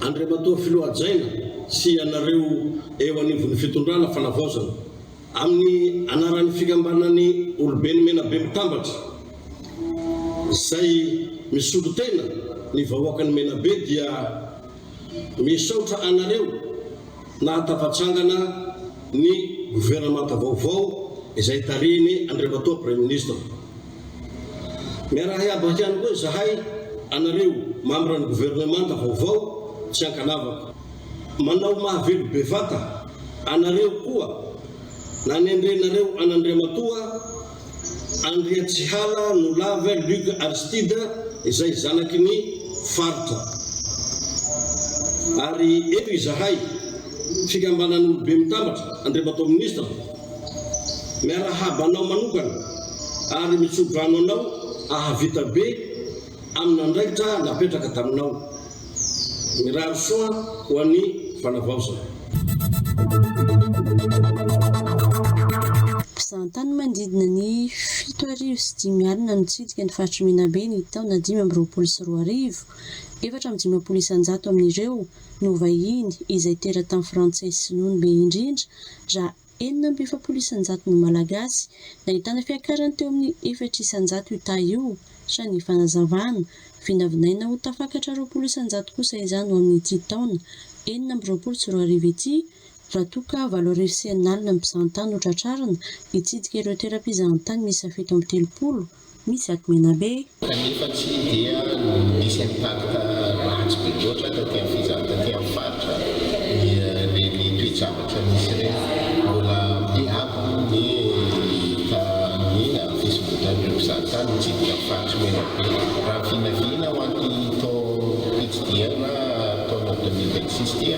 Andriamatoa Filoha Hajaina sy ianareo eo anivon'ny fitondrana Fanavaozana, amin'ny anaran'ny Fikambanan'ny Oloben'i Menabe Mitambatra izay misolo tena ny vahoakan'i Menabe dia misaotra anareo nahatafatsangana ny governemanta vaovao izay tarihin'i Andriamatoa Praiminisitra. Miaraha hiabaka ihany koa izahay anareo mambran'ny governemanta vaovao tsy ankanavaka. Manao mahavelo bevata anareo koa nanendrenareo an'Andriamatoa Andriatsihala Nolave Luc Aristide izay zanaky ny faritra. Ary eto izahay, Fikambanan'Olobe Mitambatra, Andriamatoa Ministra, Miarahaba anao manokana ary mitsodrano anao ahavita be amin'andraikitra napetraka taminao. Mirary soa ho an'ny fanavaozana. Mpizahantany manodidina ny fito arivo sy dimy alina nitsidika ny faritr'i Menabe ny taona dimy amby roapolo sy roa arivo, efatra amby dimampolo isan-jato amin'ireo no vahiny izay teratany frantsay sy sinoa no be indrindra raha enina amby efapolo isanjato no malagasy, nahitana fiakarany teo amin'ny efatra isanjato io taha io sa ny fanazavana, vinavinaina ho tafakatra roapolo isanjato kosa izany ho amin'ity taona enina amby roapolo sy roa arivo ity raha toa ka valo arivo sy enina alina ny mpizahantany no tratrarina hitsidika ireo toeram-pizahantany miisa fito amby telopolo misy ato Menabe. Kanefa tsy dia misy impact ratsy be loatra taty amin'ny fizahana taty amin'ny faritra ireny toe-javatra nisy ireny. Mbola be àby moa ny hita amin'ny fisondrotan'ireo mpizahatany mitsidika ny faritr'i Menabe. Raha ny vinavina ho an'ity taom-pitsidihanna taona deux mille vingt six ity,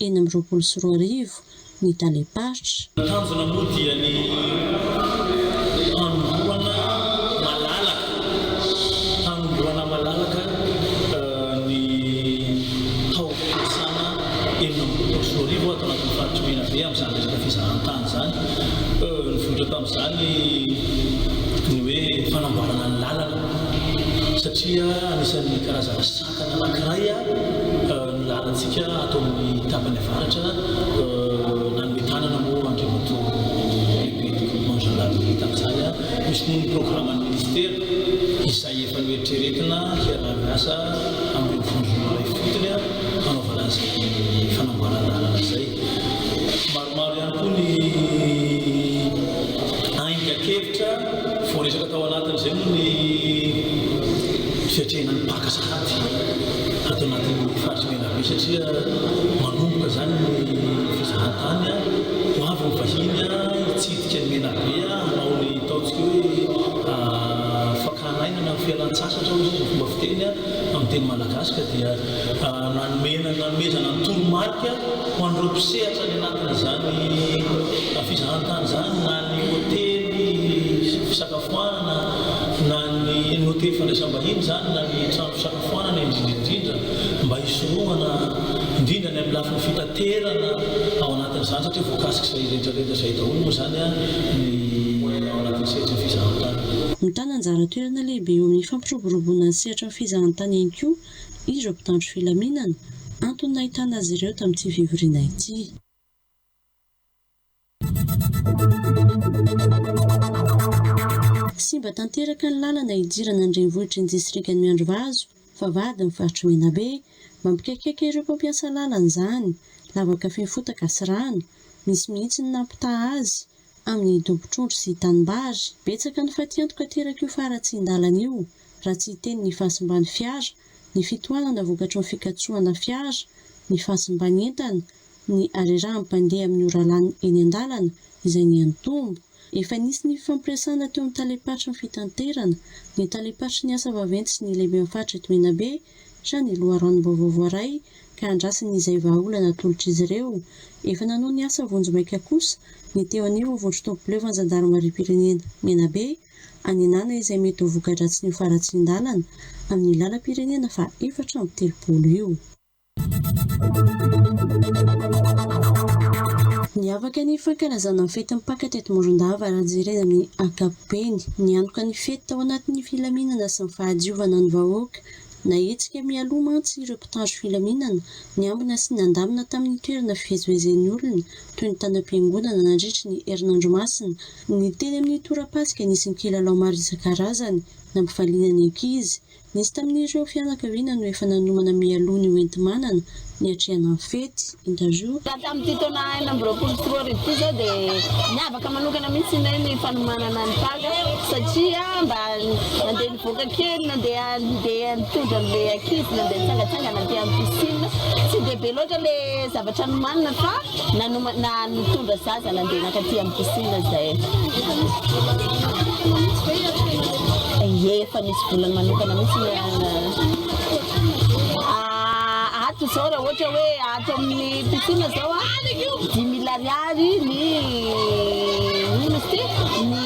enina amby roapolo sy roa arivo ny talem-paritra. Ny tanjona moa dia ny hanombohana malalaka hanombohana malalaka ny taom-piasana enina amby roapolo sy roa arivo ato anatin'ny faritry Menabe amin'izany resaka fizahantany izany. Nivoitra tamin'izany ny hoe fanamboarana ny lalana satria anisan'ny karazana sampy. Tanàna anankiray ny lalantsika ato amin'ny tapany avaratra, nanome tanana moa Andriamatoa Lehibe Développement Jean Larry tamin'izany hisy ny programan'ny Minisitera izay efa noeritreretina hiaraha-miasa amin'ireo vondron'olona ifotony hanaovana izay fanamboaran-dalana izay. Maromaro ihany koa ny aingan-kevitra voaresaka tao anatin'izay moa ny fiatrehana ny Paka sahady ato anatin'ny faritra Menabe satria manomboka izany ny fizahantany, ho avy ny vahiny hitsidika an'i Menabe hanao ny ataontsika hoe fakana aina na fialan-tsasatra hoy isika izao fomba fiteny amin'ny teny malagasy ka dia. Nanome nanomezana ny toromarika ho an'ireo mpisehatra any anatin'izany fizahan-tany izany na ny hotely fisakafoanana na ny ny hotely fandraisam-bahiny izany na ny trano fisakafoanana indrindra indrindra mba hisorohana indrindra ny amin'ny lafiny fitaterana ao anatin'izany satria voakasik'izay rehetra rehetra izay daholo moa izany ny ao anatin'ny sehatry ny fizahan-tany. Mitana anjara toerana lehibe eo amin'ny fampiroboroboana ny sehatry ny fizahan-tany ihany koa ireo mpitandro filaminana, antony nahitana azy ireo tamin'ity fivoriana ity. Simba tanteraka ny lalana hidirana ny renivohitry ny distrikan'i Miandrivazo, Vavahady ny faritr'i Menabe. Mampikaikaika ireo mpampiasa lalana izany, lavaka feno fotaka sy rano, misy mihitsy ny nampitaha azy. amin'ny dombon-trondro sy tanimbary. Betsaka ny fatiantoka aterak'io faharatsian-dalana io, raha tsy hiteny ny fahasimban'ny fiara, ny fitohanana vokatry ny fikatsohana fiara, ny fahasimban'ny entana, ny harerahan'ny mpandeha amin'ny ora lany eny an-dalana, izay niha-nitombo. Efa nisy ny fifampiresahana teo amin'ny talem-paritry ny fitanterana, ny talem-paritry ny asa vaventy sy ny lehiben'ny faritra eto Menabe, Sa ny loharanom-baovao voaray ka andrasiny izay vahaolana atolotr'izy ireo? Efa nanao ny asa vonjimaika kosa ny teo anivon'ny vondron-tompoboleva ny zandarimariam-pirenena Menabe, anenana izay mety ho voka-dratsin'io faharatsian-dalana amin'ny lalam-pirenena faha efatra amby telopolo io. Niavaka ny fankalazana ny fetin'ny Paka teto Morondava raha jerena amin'ny ankapobeny. Nianoka ny fety tao anatin'ny filaminana sy ny fahadiovana ny vahoaka. Nahetsika mialoha mantsy ireo mpitandro filaminana niambina sy nandamina tamin'ny toerana fivezivezen'ny olona toy ny tanam-piangonana nandritry ny herinandro masina ny teny amin'ny torapasika nisy ny kilalao maro isan-karazany nampivaliana ny ankizy. Nisy tamin'ireo fianakaviana no efa nanomana mialoha ny hoenti-manana niatrehana ny fety, interview. Raha tamin'ity taona enina amby roapolo sy roa arivo ity izao dia niavaka manokana mihitsy ny ahy ny fanomanana ny Paka satria mba nandeha nivoaka kely, nandeha nandeha nitondra an'ilay ankizy nandeha nitsangatsangana aty amin'ny piscine. Tsy dia be loatra ilay zavatra nomanina fa nanoma na nitondra zaza nandeha nankaty amin'ny piscine izay. Efa nisy volana manokana mihitsy ny an. Ato zao raha ohatra hoe ato amin'ny piscine zao a, dimy mille ariary ny ino izy ty? Ny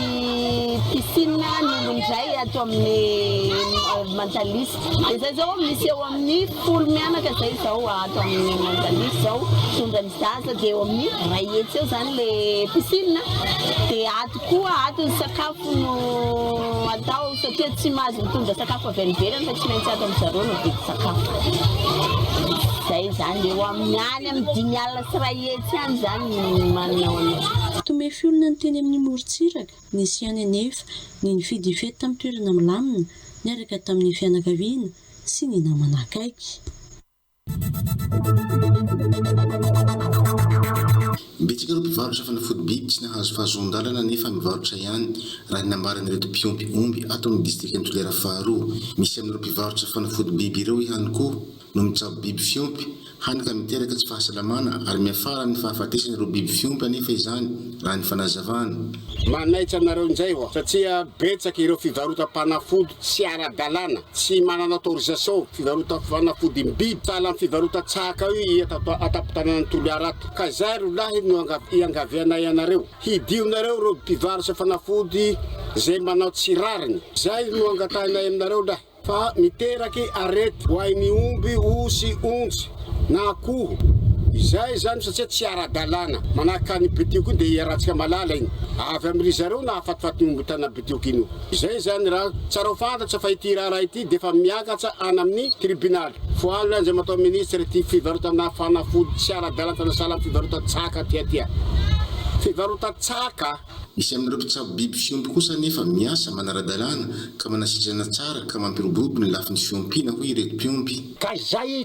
piscine ny olona indray ato amin'ny Mantalis. Dia zay zao misy eo amin'ny folo mianaka zay zao ato amin'ny Mantalis zao tondran'ny Zaza dia eo amin'ny iray hetsy eo izany ilay piscine, dia ato koa ato ny sakafo no atao satria tsy mahazo mitondra sakafo avy any ivelany fa tsy maintsy ato amin-dry zareo no vidy sakafo. Izay izany, eo amin'ny any amin'ny dimy alina sy iray hetsy any izany ny manana ao an'io. Tomefy olona ny teny amin'ny morontsiraka, nisy ihany anefa ny nifidy hifety tamin'ny toerana milamina niaraka tamin'ny fianakaviana sy ny namana akaiky. Betsaka ireo mpivarotra fanafody biby tsy nahazo fahazoan-dalana nefa mivarotra ihany, raha ny nambaran'ireto mpiompy omby ato amin'ny distrikan'i Toliara faharoa. Misy amin'ireo mpivarotra fanafody biby ireo ihany koa no mitsabo biby fiompy, hany ka miteraka tsy fahasalamana ary miafara amin'ny fahafatesana ireo biby fiompy anefa izany, raha ny fanazavana. Manaitra anareo injay aho satria betsaka ireo fivarotam-panafody tsy ara-dalàna Tsy manana autorisation fivarotam-fanafody ny biby sahala amin'ny fivarotan-tsaka io i eto an-tampon-tanànan'i Toliara ato. Ka izay ry lahy no iangavianay anareo, hidionareo ireo mpivarotra fanafody izay manao tsy rariny. Izay no angatahinay aminareo lahy fa miteraky arety ho an'ny omby, osy, onjy na akoho izay izany satsia tsy ara-dalàna. Manahaka an'i Betio koa dia i Ratsikamalala iny avy amin'rizareo nahafatifaty ny omby tanabe. Diokino. Izay izany raha tsara ho fantatra fa ity raharaha ity dia efa miakatra any amin'ny tribonaly. Foanina Andriamatoa Minisitra ity fivarotana fanafody tsy ara-dalana sahala amin'ny fivarotan-tsaka aty aty. Fivarotan-tsaka! Misy amin'ireo mpitsabo biby fiompy kosa anefa miasa manara-dalàna ka manasitrana tsara ka mampiroborobo ny lafiny fiompiana, hoy ireto mpiompy. Ka izay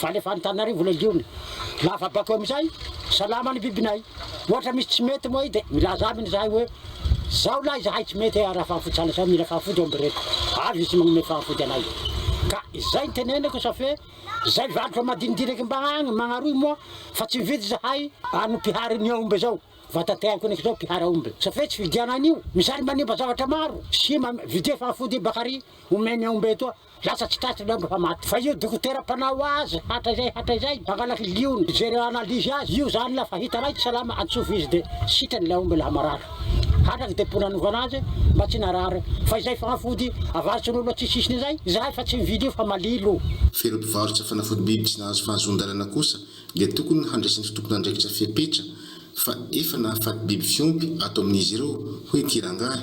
Valy avy any Antananarivo ilay liona. Lava bako amin'izay, salama ny bibinay. Ohatra misy tsy mety moa dia milaza aminy izahay hoe, izao lahy izahay tsy mety raha fahafoty sahala izao, mila fahafoty ao ambireto. Avy izy manome fahafoty anay. Ka izay no teneniko sa fe izay valiko amadinidiniko mba agny Magnaroy moa fa tsy mividy izahay an'ny mpihary ny aomby izao. Vatateako niko izao mpihary aomby sa fe tsy vidianan'io. Misaly manimba zavatra maro. Sima, vidie fahafoty i Bakary omeny aomby etoa. Lasa tsy tratry ny andro fa maty. Fa io dokotera mpanao azy hatrizay hatrizay mpangalatra liony mijery analyse azy io zany la fa hita raika salama antsofy izy de sitrany la omby la marary hatrany de pona anovana azy mba tsy narary fa izay fanafody avarotsinolo atsisisiny zay zahay fa tsy mividy io fa malilo. Fa ireo mpivarotra fanafody biby tsy nahazo fahazoan-dalana kosa dia tokony handresen'ity tompon'andraikitra fepetra fa efa nahafaty biby fiompy ato amin'izy ireo, hoy ity rangahy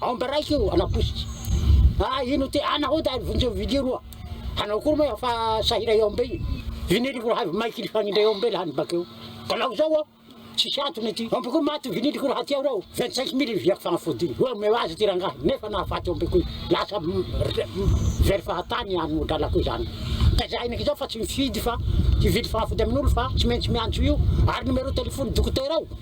Aomby raika io ana posiky ah ino ty ana hody ary vonjeo vilia roa anao koa moa efa sahira i aombe io viniloko raha avy maiky lifagnindrao i aombe lany bakeo ka laho zao aho tsisy antony ty aomby koa maty viniloko raha ty aho reo vingt cinq mille io viako fagnafody io omeo azy ty rangahy nefa nahafaty aombe koa lasa very fahatany any lalako zany ka za henoko zao fa tsy mifidy fa hivily fagnafody amin'olo fa tsy maintsy miantso io ary numéro telefony dokotera ao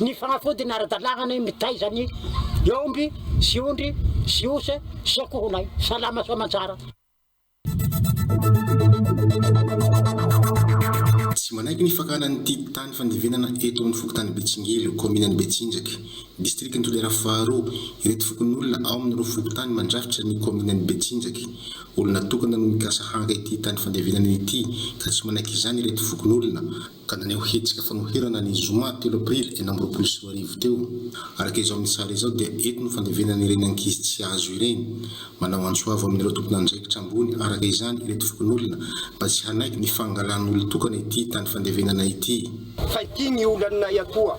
Ny fanafody ny ara-dalàna ny mitaiza ny omby sy ondry sy osa sy akohonay salama sy aman-tsara. Tsy manaiky ny fakana ny titre tany fandevenana eto amin'ny fokontany Betsingelo, kaominan'i Betsinjaka, distrikan'i Toliara faharoa, ireto fokonolona ao amin'ireo fokontany mandrafitra ny kaominan'i Betsinjaka. Olona tokana no mikasa haka ity tany fandevenana ity ka tsy manaiky izany ireto fokonolona. ka naneho hetsika fanoherana ny zoma telo aprily enina amby roapolo sy roa arivo teo. Araka izao amin'ny sary izao dia eto no fandevenana ireny ankizy tsy azo ireny. Manao antso avo amin'ireo tompon'andraikitra ambony araka izany ireto fokonolona mba tsy hanaiky ny fangalan'olon-tokana ity tany fandevenana ity. Fa ity ny olanay atoa.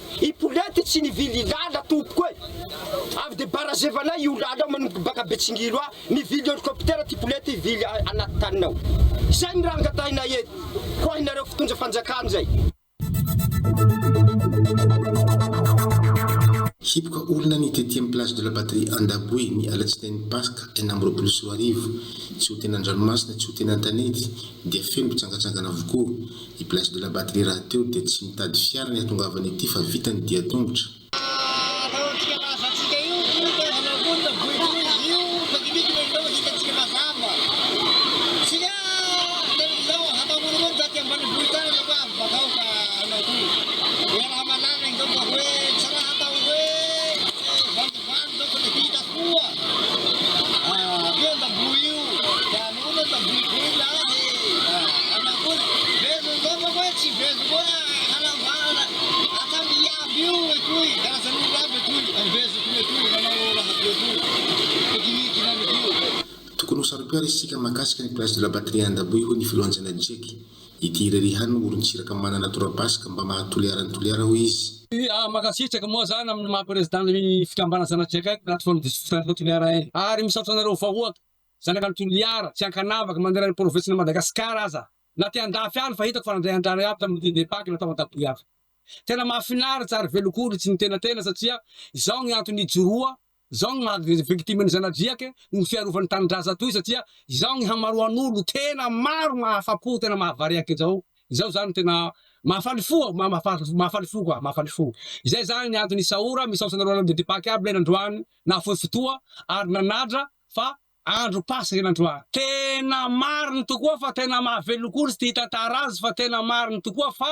I Polety tsy nivily ilala tompoko e! Avy de barazevanay io lala io manomboka baka Betsingilo a! Nivily helicoptera ty Polety hivily anaty taniny ao! Zay ny raha angatahinay eto! Ho ahinareo fitondra fanjakana zay! Hipoka olona ny deuxième place de la batterie Andaboe ny alatsinainy Paska enina amby roapolo sy roa arivo. Tsy ho tena an-dranomasina, tsy ho tena an-tanety dia feno mpitsangatsangana avokoa. I Blaise de la Batterie rahateo dia tsy mitady fiara ny hatongavany ety fa vita ny dia tongotra. Tokony ho saro-pihary isika mahakasika ny Place de la Patrie Andaboy, hoy ny filohan'ny Senat Jeky. Ity irery ihany no orin-tsiraka manana tora-basy ka mba maha Toliara an'i Toliara hoy izy. Mankasitraka moa zany amin'ny maha Président ny fikambanana Zanatry Akaiky, Plateforme des Citoyens pro Toliara iny. Ary misaotra anareo vahoaka, zanaka an'i Toliara, tsy ankanavaka, manerana ny provinsin'i Madagasikara aza, na aty andafy any fa hitako fa nandray andrana iaby tamin'ny Dindin-Paka natao Antaboiaka. Tena mahafinaritra ary velon-koditry ny tena tena satria izao ny antony ijoroa Izao no maha victime ny zanadriaka noho ny fiarovan'ny tanindrazan toy satria izao ny hamaroan'olo tena maro mahafapo tena mahavariaka izao izao zany tena mahafaly fo ah mahafaly fo quoi mahafaly fo izay zany ny antony isaora misaotra anareo anareo dedy paky aby lay nandroany nahafoy fotoa ary nanadra fa andro paska iny androany tena mariny tokoa fa tena mahavelon-ko izy ty hitantara azy fa tena mariny tokoa fa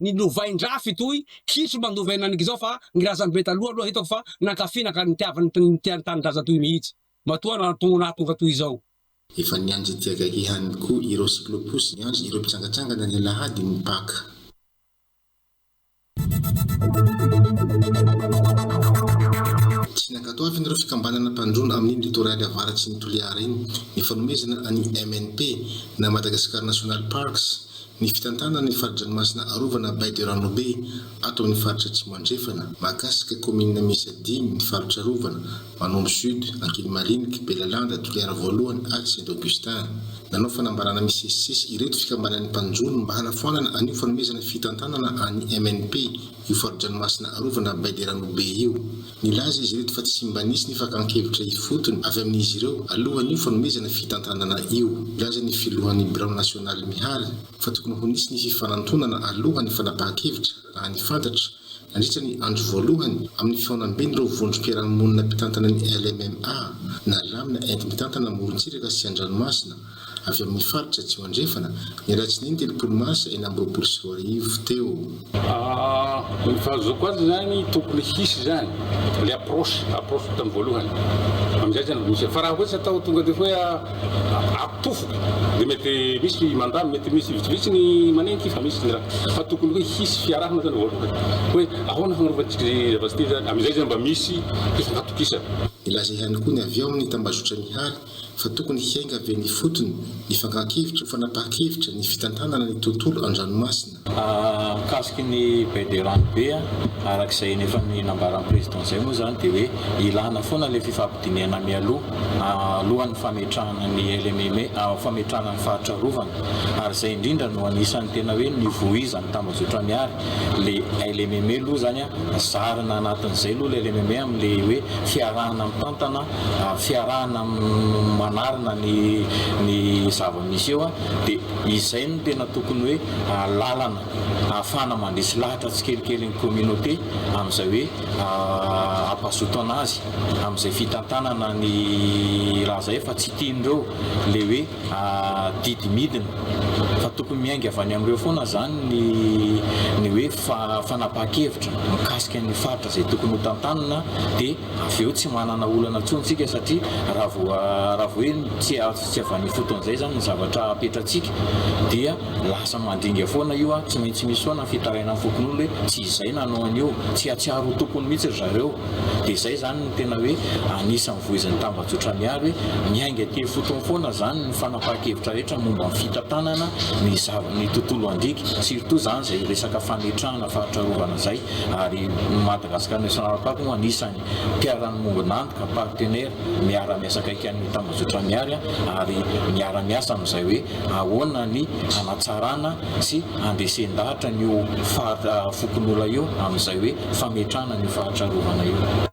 Ny lovain-draha fitohy kitro mba novaina an'ngy zao fa ny razambe taloha aloha hitako fa nankafy naka nitiavany tny nitia ny tanindraza toy mihitsy. Matoa nahatonga nahatonga toy izao. Efa nianjadiaka ihany koa ireo cyclopousy niandry ireo mpitsangatsangana ny alahady ny Paka. Tsy nankatoavin' ireo fikambanana mpandroana amin' iny litoraly avaratry ny Toliara iny ny fanomezana an' i MNP na Madagascar National Parks Ny fitantanana ny fari-dranomasina arovana Baie de Ranobe ato amin'ny faritra Atsimo Andrefana, mahakasika kaominina miisa dimy ny faritra arovana, Manombo Sud, Ankilimariniky, Belalanda, Toliara Voalohany ary Saint Augustin. Nanao fanambarana misesisesy ireto fikambanan'ny mpanjono mba hanafoanana an'io fanomezana fitantanana an'ny MNP io fari-dranomasina arovana Baie de Ranobe io. Nilaza izy ireto fa tsy mba nisy ny fakan-kevitra ifotony avy amin'izy ireo alohan'io fanomezana fitantanana io. Nilaza ny filohan'ny birao nasionaly Mihary fa tokony ho nisy ny fifanantonana alohan'ny fanapahan-kevitra raha ny fantatra, nandritra ny andro voalohany amin'ny fihaonamben'ireo vondrom-piarahamonina mpitantana ny LMMA, na Lamina enti-mitantana amorontsiraka sy an-dranomasina. avy amin'ny faritra Atsimo Andrefana, ny alatsinainy telopolo marsa enina amby roapolo sy roa arivo teo. Ny fahazoako azy izany tokony hisy izany ilay approche approche tamin'ny voalohany, amin'izay izany vao misy. Fa raha hoe tsy atao tonga dia hoe atofo dia mety misy mandà, mety misy vitsivitsy ny manenky fa misy ny raha. Fa tokony hoe hisy fiarahana izany voalohany hoe ahoana fagnarovantsika izay zavatra izay izany, amin'izay izany mba misy fifankahatokisana. Nilaza ihany koa ny avy ao amin'ny tambazotran'Ihany fa tokony hiainga avy eny ifotony ny fakan-kevitra ho fanapahan-kevitra ny fitantanana ny tontolo an-dranomasina. Mikasiky ny baie de rano be, araka izay ny efa ny nambaran'ny Président izay moa izany dia hoe ilana foana ilay fifampidinihana mialoha alohan'ny fametrahana ny LMM, fametrahana ny faritra arovana ary izay indrindra no anisan'ny tena hoe nivoizan'ny tambajotra Miary ilay LMM aloha izany an, zarina anatin'izay aloha ilay LMM amin'ilay hoe fiarahana mitantana. fiarahana manarina ny ny zava-misy eo dia izay no tena tokony hoe lalana ahafahana mandresy lahatra tsikelikely ny communauté amin'izay hoe ampazotana azy amin'izay fitantanana ny raha izay fa tsy tian'ireo ilay hoe didy midina fa tokony miainga avy any amin'ireo foana izany ny ny hoe fanapahan-kevitra mikasika ny faritra izay tokony ho tantanina dia Avy eo tsy manana olana intsony isika satria raha vao raha vao hoe tsy azo tsy avy any ifotony izay izany ny zavatra apetratsika dia lasa mandringa foana io a, tsy maintsy misy foana ny fitarainan'ny fokonolona hoe tsy izay nanao an'io, tsy hahatsiaro ho tompony mihitsy ry zareo. Dia izay izany no tena hoe anisan'ny voizin'ny tambajotra Miary hoe miainga aty ifotony foana izany ny fanapahan-kevitra rehetra momba ny fitantanana ny zava-ny tontolo andriaka, surtout izany izay resaka fametrahana faritra arovana izay. ary Madagascar National Park no anisan'ny mpiara-miombon'antoka, partenaire, miara-miasa akaiky an'ny tambajotra Miary ary miara-miasa amin'izay hoe ahoana ny hanatsarana sy handresen-dahatra an'io faritra Fokonola io amin'izay hoe fametrahana an'io faritra arovana io.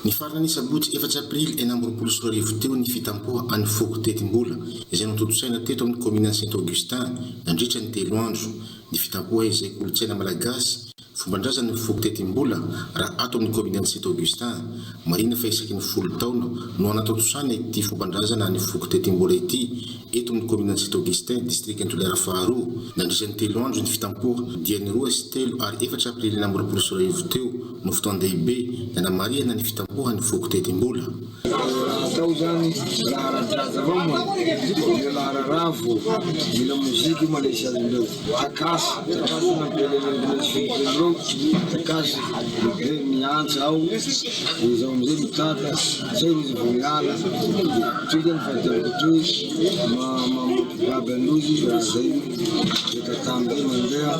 Nifarana ny sabotsy efatra aprily enina amby roapolo sy roa arivo teo ny fitampoha an'i Foko Tetimbola izay notontosaina teto amin'ny kaominan'i Saint Augustin nandritra ny telo andro ny fitampoha izay kolontsaina malagasy, fomban-drazan'ny Foko Tetimbola raha ato amin'ny kaominan'i Saint Augustin. Marihina fa isaky ny folo taona no anatontosana ity fomban-drazana an'i Foko Tetimbola ity Eto amin'ny kaominan'i Sint Augustin, distrikan'i Toliara faharoa, nandritra ny telo andro ny fitampoha, dia ny roa sy telo ary efatra aprily na mirapolo sy iray arivo teo no fotoan-dehibe nanamarihana ny fitampohan'ny foko teti-bola. Atao izany laharan-jaza vao moa? Ilay laharan-ravo, ny lamoziky io manaisazy ireo. Takasy, takasy ny velivelimbelonao, takasy dia miantsa aho, dia izaho amin'izay mitady, izay no izy vao miala, toy izany ny fahadiaviko toy, mampibaby an'io izy, dia izay no miezaka tamin'izay mandeha,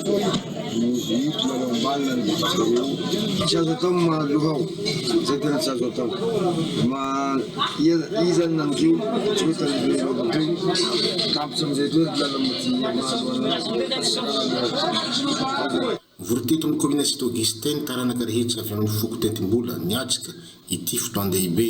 miodiodio mialoha ambany na ny vava-drano eo, tsy azo atao ny mahaloha aho. Izay tena tsy azo atao. Ma iza no nanjo toetra an'ireo vahoaka teo? Tampitra amin'izay toetra ilana modia maro an'azy. Vory teto amin'ny kaominina Sitogista ny taranaka rehetra avy amin'ny foko Tendimbola, niatrika ity fotoan-dehibe.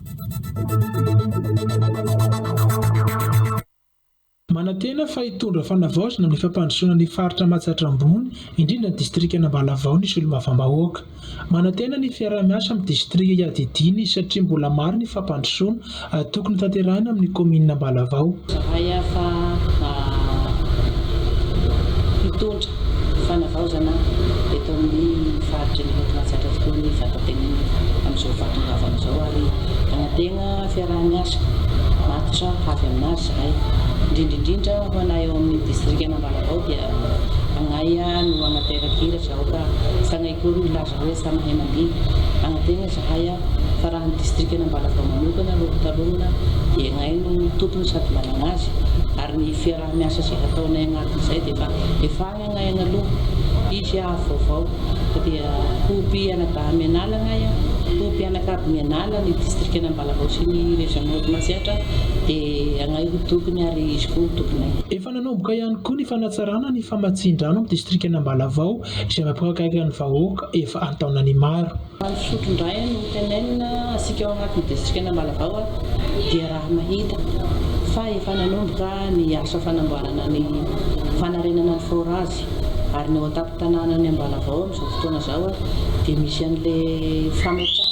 Manantena fa hitondra fanavaozana ny fampandrosoana ny faritra Matsatra Ambony, indrindra ny distrikan'Ambalavao ny solombavambahoaka. Manantena ny fiaraha-miasa amin'ny distrika iadidiany izy satria mbola maro ny fampandrosoana tokony hotanterahina amin'ny kaominin'Ambalavao. Raha hafa hitondra fanavaozana eto amin'ny faritra ny eto Matsiatra tokoa ny vatantenany amin'izao fahatongavany izao ary hanantena fiaraha-miasa matotra avy amin'azy izahay. Indrindra indrindra ho anay ao amin'ny distrikan'Ambalavao dia agnaia no hanateraka iraka aoka fa agnaia koa ny laza Reza Mahemadine, Anantena izahay a, fa raha ny distrikan'Ambalavao manokana aloha hotalohina dia ianay no tompony sady manana azy ary ny fiaraha-miasa izay hataonay agnatin'izay dia efa efahaigna agnay agnaloha. Hisy haavo vaovao fa dia ho mpianadahy mianala agnay a, ho mpianakavy mianala ny distrikan'Ambalavao sy ny Région Nord Matsiatra dia agnay ho tokony ary izy koa ho tomponay. Efa nanomboka ihany koa ny fanatsarana ny famatsian-drano amin'ny distrikan'Ambalavao J'ai ma pro akaiky ny vahoaka efa antaonany maro. Andry Fotro indray no tenenina asika ao anatin'ny distrikan'Ambalavao dia raha mahita fa efa nanomboka ny asa fanamboarana ny fanarenana ny forage ary ny ao an-tampon-tananan'ny Ambalavao amin'izao fotoana izao dia misy an'ilay fametrahana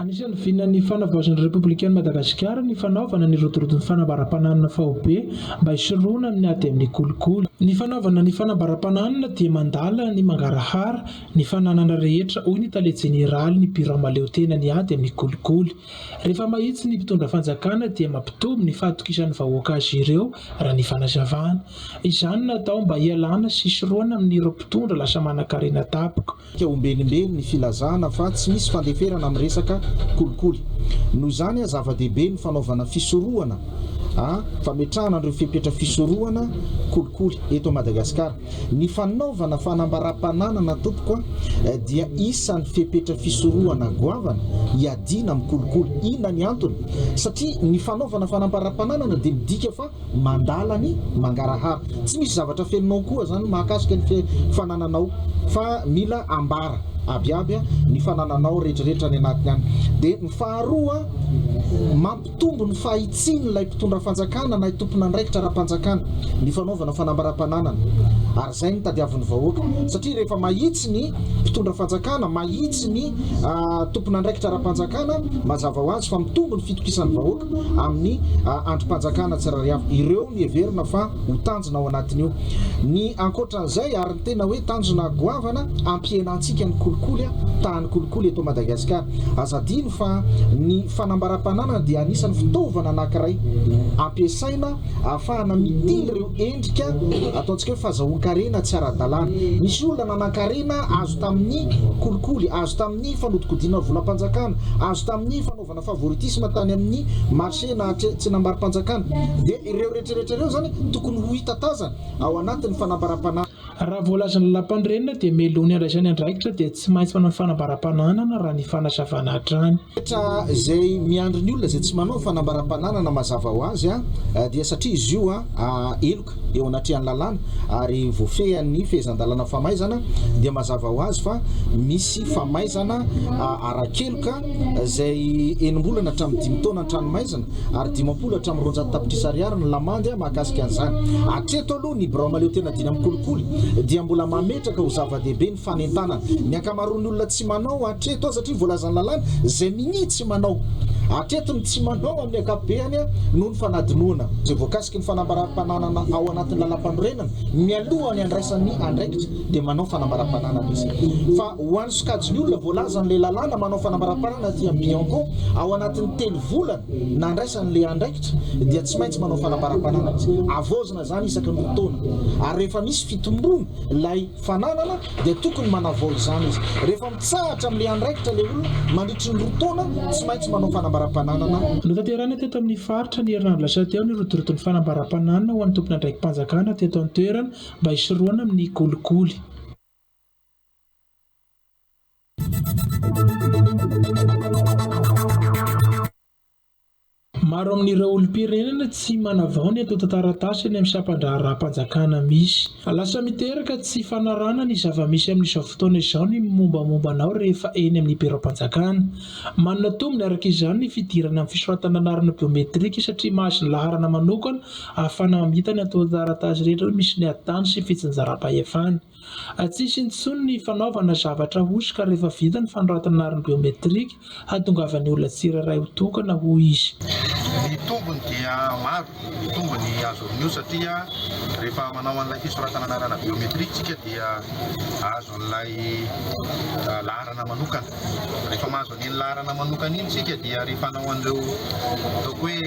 Anisan'ny vinan'ny Fanavaozan'ny Repoblikan'i Madagasikara ny fanaovana ny rodorodo ny fanambaram-pananana faobe mba hisorohana amin'ny ady amin'ny kolikoly. Ny fanaovana ny fanambaram-pananana dia mandala ny mangarahara ny fananana rehetra, hoy ny tale jeneralin'ny Birao mahaleotena ny ady amin'ny kolikoly. Rehefa mahitsy ny mpitondra fanjakana dia mampitombo ny fahatokisan'ny vahoaka azy ireo, raha ny fanazavana. Izany natao mba hialana sy hisorohana amin'ireo mpitondra lasa manankarena daboka. Ka ombenimben ny filazana fa tsy misy fandeferana amin'ny resaka kolikoly. Noho izany a zava-dehibe ny fanaovana fisorohana a fametrahana an'ireo fepetra fisorohana kolikoly eto Madagasikara. Ny fanaovana fanambaram-pananana tompoko a dia isan'ny fepetra fisorohana goavana hiadiana amin'ny kolikoly. Inona ny antony? Satria ny fanaovana fanambaram-pananana dia midika fa mandala ny mangarahara. Tsy misy zavatra feno non koa zany mahakasika ny fanananao fa mila ambara abiaby ny fanananao rehetrarehetra any anatiny any dia ny faharoa mampitombo ny fahitsian'ilay mpitondra fanjakana na tompon'andraikitra ara-panjakana ny fanaovana fanambaram-pananana ary izay ny tadiavin'ny vahoaka satria rehefa mahitsy ny mpitondra fanjakana mahitsy ny tompon'andraikitra ara-panjakana mazava ho azy fa mitombo ny fitokisan'ny vahoaka amin'ny andrim-panjakana tsirariavo. Ireo no heverina fa ho tanjona ao anatin'io. Ny ankoatran'izay, ary ny tena hoe tanjona goavana, hampihenantsika ny kolikoly, tahan'ny kolikoly eto Madagasikara. Aza adino fa ny fanambaram-pananana dia anisan'ny fitaovana anankiray ampiasaina ahafahana mitily ireo endrika ataontsika hoe fazahoan-karena tsy ara-dalàna. Misy olona nanan-karena azo tamin'ny kolikoly, azo tamin'ny fanodinkodinana volam-panjakana, azo tamin'ny fanaovana. Fanaovana favoritisme tany amin'ny marché na tsenam-barom-panjakana dia ireo rehetrarehetra ireo izany tokony ho hita tazana ao anatin'ny fanambaram-panahana. Raha voalazan'ny lalàmpanorenana dia melohiny handraisany andraikitra dia tsy maintsy manao ny fanambaram-pananana raha ny fanazavana hatrany. Rehetra izay miandry ny olona izay tsy manao ny fanambaram-pananana mazava ho azy dia satria izy io heloka. eo anatrehan'ny lalàna ary voafehin'ny fehezan-dalàna famaizana dia mazava ho azy fa misy famaizana ara-keloka izay enim-bolana hatramin'ny dimy taona ny tranomaizina ary dimampolo hatramin'ny roanjato tapitrisa ariary ny lamandy mahakasika an'izany. Hatreto aloha ny birao mahaleotena dimy amin'ny kolikoly dia mbola mametraka ho zava-dehibe ny fanentanana ny ankamaroan'ny olona tsy manao hatreto aza hatria voalazan'ny lalàna izay minia tsy manao hatreto ny tsy manao amin'ny ankapobehany noho ny fanadinoana izay voakasika Ny fanambaram-pananana ao anatin'ny lalampanorenana, mialoha ny handraisany andraikitra dia manao fanambaram-pananana izy. Fa ho an'ny sokajin'ny olona voalazan'ilay lalàna manao fanambaram-pananana aty amin'ny Bianco, ao anatin'ny telo volana nandraisany ilay andraikitra dia tsy maintsy manao fanambaram-pananana izy. Havaozina izany isaky ny roa taona ary rehefa misy fitomboana ilay fananana dia tokony manavao izany izy. Rehefa mitsahatra amin'ilay andraikitra ilay olona mandritry ny roa taona, tsy maintsy manao fanambaram-pananana. Notanterahina teto amin'ny faritra ny herinandro lasa teo ny rotoroton'ny fanambaram-pananana ho an'ny tompon'andraiki-panjakana teto an-toerana mba hisorohana amin'ny kolikoly. Maro amin'ireo olom-pirenena tsy manavao ny antontan-taratasy any amin'ny sampan-draharaham-panjakana misy. Lasa miteraka tsy fanarahana ny zava-misy amin'izao fotoana izao ny mombamomba anao rehefa eny amin'ny biraom-panjakana. Manana tombony araka izany ny fidirana amin'ny fisoratana anarana biometrika satria mahazo ny laharana manokana ahafahana mamita ny antontan-taratasy rehetra misy ny ady tany sy fitsinjaram-pahefana. Tsisy intsony ny fanaovana zavatra ahosoka rehefa vita ny fanoratana arina biometrika, hahatongavan'ny olona tsirairay ho tokana, hoy izy. Ny tombony dia maro, ny tombony azo avy amin'io satria rehefa manao an'ilay fisoratana anarana biometrika isika dia azo an'ilay laharana manokana, rehefa mahazo an'iny laharana manokana iny isika dia rehefa hanao an'ireo ataoko hoe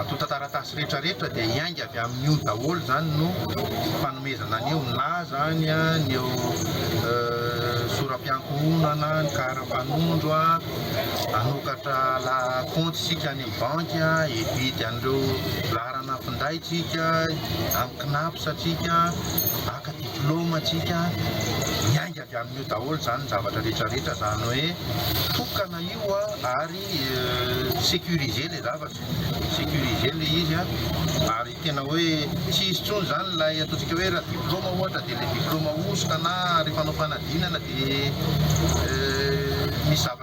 antontan-taratasy, retraretra dia hiainga avy amin'io daholo zany no fanomezana an'io na zany ny eo soram-piankohonana ny karapanondro hanokatra la compte sika any amin'ny banky hividy an'ireo laharana finday tsika amin'ny cnaps tsika haka diploma tsika hiainga Dia amin'io daholo izany ny zavatra rehetra rehetra, izany hoe tokana io ary sécurisé ilay zavatra, sécurisé ilay izy an, ary tena hoe tsy hisy intsony izany ilay ataontsika hoe raha diplaoma ohatra dia ilay diplaoma hosoka na rehefa hanao fanadinana dia misy zavatra.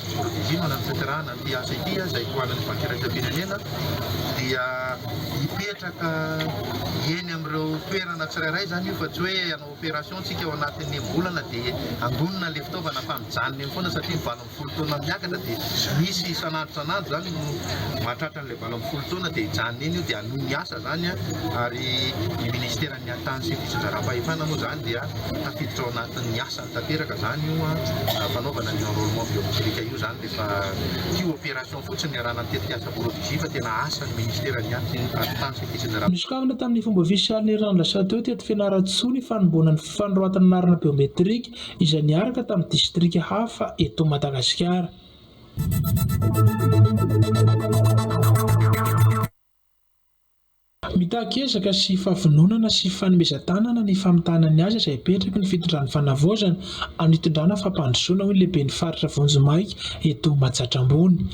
Nohadinoina ny fiatrarana ity asa ity izay ho an'ny Banky Iraisam-pirenena dia hipetraka eny amin'ireo toerana tsirairay izany io fa tsy hoe hanao opération tsika ao anatin'ny enim-bolana dia handonina ilay fitaovana fa mijanona eny foana satria valo ambin'ny folo taona miakatra dia misy isan'andro isan'andro izany no mahatratra an'ilay valo ambin'ny folo taona dia hijanona eny io dia hanohy ny asa izany ary ny Ministera Ny haritany sy ny fitsinjaram-pahefana moa izany dia tafiditra ao anatin'ny asany tanteraka izany io fanaovana an'io enrôlement biométrique io izany dia efa tio opération fotsiny niarahana amin'ny tetikasa Borodizia fa tena asan'ny ministera ny haritany sy ny fitsinjaram Nosokafana tamin'ny fomba ofisialy ny herinandro lasa teo teto Fianarantsoa ny fanomboana ny fanoratana anarana biométrique izay niaraka tamin'ny distrika hafa eto Madagasikara. Mitaky ezaka sy fahavononana sy fanomezan-tanana ny famitahana ny asa izay apetraky ny fitondran'ny Fanavaozana amin'ny hitondrana fampandrosoana, hoy ny Lehiben'ny faritra vonjimaika eto Majatrà Ambony.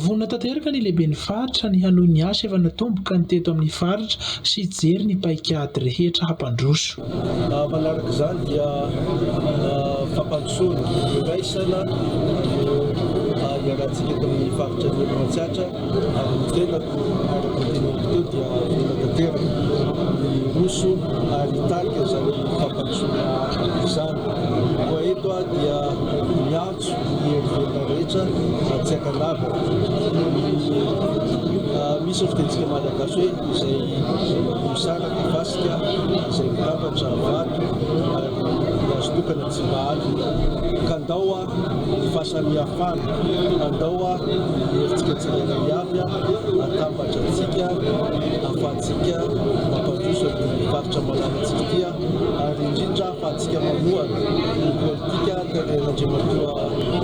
Vonona tanteraka ny Lehiben'ny faritra ny hanohy ny asa efa natomboka ny teto amin'ny faritra sy hijery ny paikady rehetra hampandroso. Manaraka izany dia fampandrosoana, iraisana no iarahantsika eto amin'ny faritra Anivon'ny Atsiatra. Ary ny velako, araka ny teneniko teo, dia vela tanteraka. Miroso ary hitarika izany fampandrosoana izany. Koa eto aho dia miantso ny hery velona rehetra mba tsy hankanavaka ny, misy ny fitentsika malagasy hoe, izay mosara dia fasika, izay mitambatra vato, ary ny azo tokana tsy mba alina. Ka ndao aho. fahasamihafana, andao ary herintsika tsirairay avy hatambatra antsika ahafahantsika mampandroso an'ity faritra malalantsika ity ary indrindra ahafahantsika manohana ny politika tarehin'Andriamatoa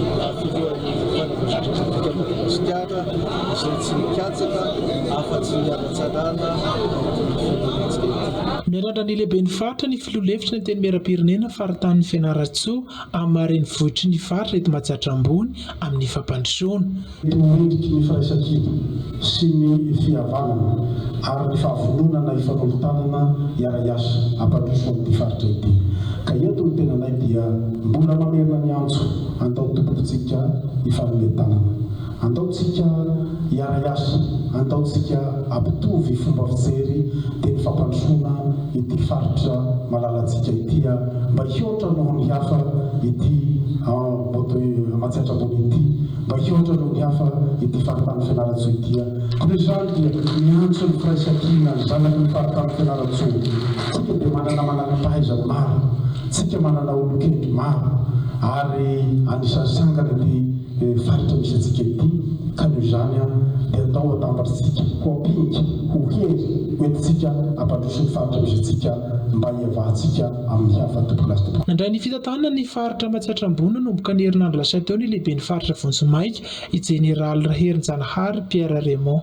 filohan'ny fanavaozandraiky antsika Madagasikara izay tsy mikatsaka afa-tsy ny hanatsarana ity firenentsika ity. Miandrandra ny lehiben'ny faritra ny filoha lefitry ny Antenimierampirenena faritanin'i Fianarantsoa, amin'ny maha renivohitry ny faritra eto Matsiatra Ambony amin'ny fampandrosoana. Eto mendrika ny firaisan-kibo sy ny fihavanana ary ny fahavononana hifanolo-tanana hiara-hiasa hampandroso an'ity faritra ity. Ka eto ny tenanay dia mbola mamerina ny antso, andao tompokitsika hifanome tanana. Andaontsika hiariary, andaontsika hampitovy fomba fijery teny fampandrosoana ity faritra malalantsika ity a! Mba hihoatra noho ny hafa ity Amboto Matsiatra Ambony ity, mba hihoatra noho ny hafa ity faritany Fianarantsoa ity a! Koa noho izany dia miantso ny firaisankina, ny zanaky ny faritany Fianarantsoa, tsika dia manana mananam-pahaizana maro, tsika manana olon-kendry maro ary anisan'ny sangany ity, Ny faritra misy antsika ity, ka noho izany aho dia atao ho atambatr'tsika, ho ampinika, ho hery hoentintsika hampandroso ny faritra misy antsika mba hiavahantsika amin'ny hafa tompon'Azy. Nandray ny fitantanana ny faritra Matsiatra Ambony nanomboka ny herinandro lasa teo ny lehiben'ny faritra Vonjimaika, i Jeneraly Raherinjanahary Pierre Raymond.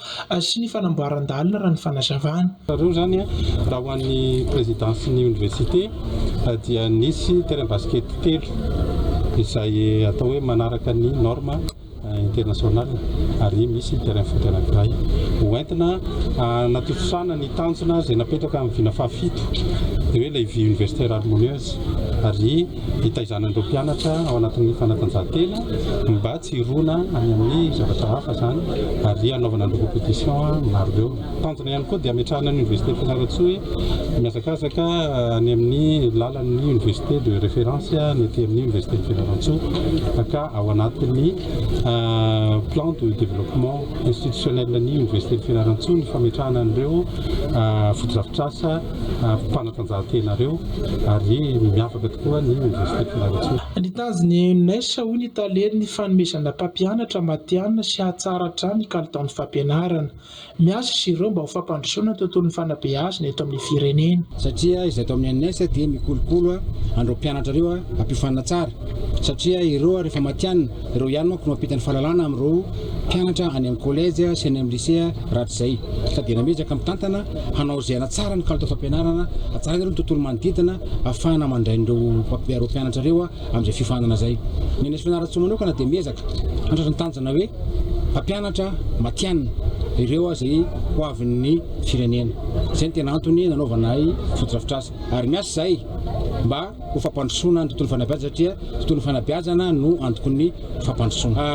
sy ny fanamboaran-dalana raha ny fanazavany. Teo izany, raha ho an'ny prezidansin'ny oniversite dia nisy terrain basket telo izay atao hoe manaraka ny norme international ary misy terrain foot anankiray ho entina hanatontosana ny tanjona izay napetraka amin'ny vina fahafito dia hoe levy universitaire harmonieuse ary hitaizanan'ireo mpianatra ao anatin'ny fanatanjahantena mba tsy hirona any amin'ny zavatra hafa izany ary hanaovana an'ireo compétitions maro ireo. Tanjona ihany koa dia hametrahana ny Université Fianarantsoa hoe mihazakazaka any amin'ny lalan'ny université de référence ny aty amin'ny Université Fianarantsoa ka ao anatin'ny plan de développement institutionnel ny Université Fianarantsoa ny fametrahana an'ireo fotodrafitrasa mpanatanjahantenareo ary miavaka tokoa ny Université Fianarantsoa. Nitady ny UNES hoy ny tale ny fanomezana mpampianatra matihanina sy hahatsara hatrany ny kalitaon'ny fampianarana. Miasa izy ireo mba ho fampandrosoana ny tontolon'ny fanabeazana eto amin'ny firenena. Satria izay ato amin'ny UNES dia mikolokolo an'ireo mpianatra ireo hampiofanina tsara satria ireo rehefa matihanina Ireo ihany manko no mampita ny fahalalana amin'ireo mpianatra any amin'ny kolejy sy any amin'ny lisea rahatr' izay ka dia namezaka mitantana hanao izay hanatsara ny kalitao fampianarana, hatsaraina ireo ny tontolo manodidina hahafahana mandray an'ireo ireo mpianatra ireo amin'izay fiofanana izay. Ny an'Esy Fianarantsoa manokana dia miezaka handratry ny tanjona hoe hampianatra matianina ireo izay ho avin'ny firenena. Izay no tena antony nanaovanay fotodrafitrasa ary miasa izahay mba. ho fampandrosoana ny tontolo fanabeazana satria tontolo fanabeazana no antokon'ny fampandrosoana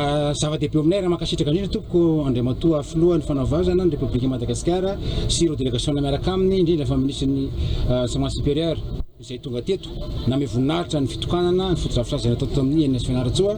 zava-dehibe eo aminay raha mankasitraka indrindra tompoko Andriamatoa filohan'ny fanabeazana ny Repoblikan'i Madagasikara sy ireo delegasiona miaraka aminy indrindra fa minisitrin'ny enseignement supérieur izay tonga teto namehy voninahitra ny fitokanana ny fotodrafitrasa izay natao teto amin'ny ENS Fianarantsoa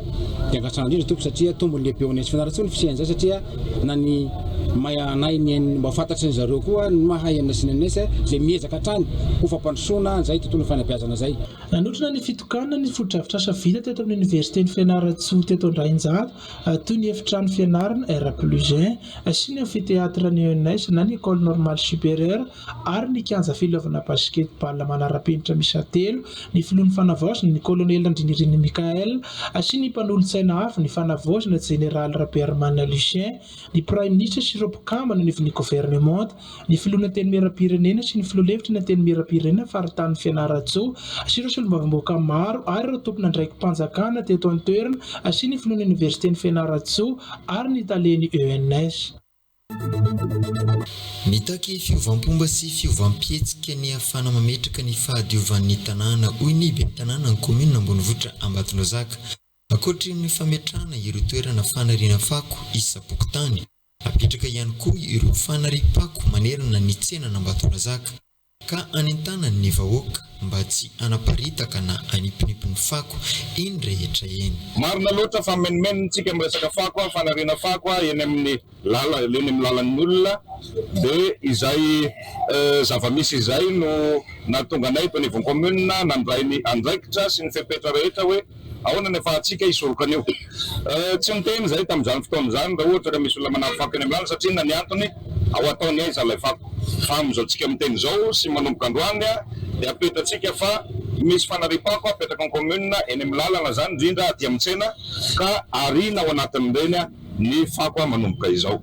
dia angatsana indrindra tompoko satria tombony lehibe eo amin'ny ENS Fianarantsoa ny fisian'izay satria na ny mahay hanahy ny ainy mba ho fantatry ny zareo koa ny maha aina sy ny an'S izay miezaka hatrany ho fampandrosoana izay tontolon'ny fanabeazana izay. Nanotrona ny fitokanana ny fotodrafitrasa vita teto amin'ny Oniversiten'i Fianarantsoa teto Andrainjato toy ny efitrano fianarana R plus un sy ny Amphithéâtre ny ENS na ny Ecole Normale Supérieure ary ny kianja filalaovana basketball manara-penitra miisa telo, ny filohan'ny Fanavaozana, ny kolonely Randrianirina Michael, sy ny mpanolotsaina hafa, ny Fanavaozana, jeneraly Rabearimanana Lucien, ny praiminisitra sy ireo mpikambana anivon'ny governemanta, ny filohan'ny Antenimierampirenena sy ny filoha lefitry ny Antenimierampirenena faritanin'i Fianarantsoa sy ireo solombavambahoaka maro ary ireo tompon'andraiki-panjakana teto an-toerana sy ny filohan'ny oniversiten'i Fianarantsoa ary ny talen'ny ENS. Mitaky fiovam-pomba sy fiovam-pihetsika ny hafana mametraka ny fahadiovan'ny tanàna, hoy ny ben'ny tanànan'ny kaominina ambonivohitra Ambatonaozaka. Ankoatry ny fametrahana ireo toerana fanariana fako isam-pokontany, hapetraka ihany koa ireo fanariam-pako manerana ny tsenan'Ambatonazaka. ka anentanany ny vahoaka mba tsy hanaparitaka na haniponipy ny fako eny rehetra eny. Marina loatra fa menomenontsika miresaka fako, fanariana fako eny amin'ny lala, eny amin'ny lalan'ny olona, dia izay zava-misy izay no nahatonga anay eto anivon'ny commune nandray ny andraikitra sy ny fepetra rehetra hoe, Ahoana ny afahantsika hisoroka an'io? Tsy niteny izahay tamin'izany fotoana izany raha ohatra ka misy olona manampy fako eny amin'ny lalana satria inona ny antony? Ao hataony aiza ilay fako? Fa amin'izao tsika miteny izao sy manomboka androany dia apetratsika fa misy fanariam-pako apetraka ny commune eny amin'ny lalana izany indrindra aty amin'ny tsena ka ariana ao anatin'ireny ny fako manomboka izao.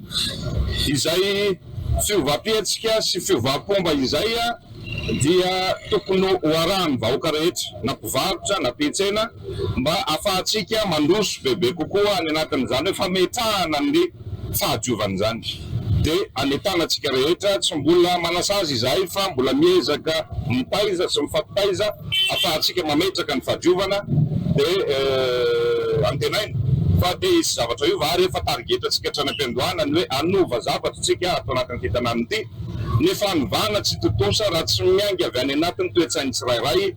Izay fiovam-pihetsika sy fiovam-pomba izay. dia tokony ho arahan'ny vahoaka rehetra, na mpivarotra na mpietsena, mba hahafahantsika mandroso bebe kokoa any anatin'izany hoe fametrahana ny fahadiovana izany. Dia anetana antsika rehetra, tsy mbola manasazy izahay fa mbola miezaka mitaiza sy mifampitaiza hahafahantsika mametraka ny fahadiovana, dia antenaina fa te hisy zavatra hiova ary efa tarigetantsika hatrany am-piandohana ny hoe hanova zavatra isika ato anatin'ity tanàna ity. Ny fanovana tsy tontosa raha tsy miainga avy any anatin'ny toe-tsain'ny tsirairay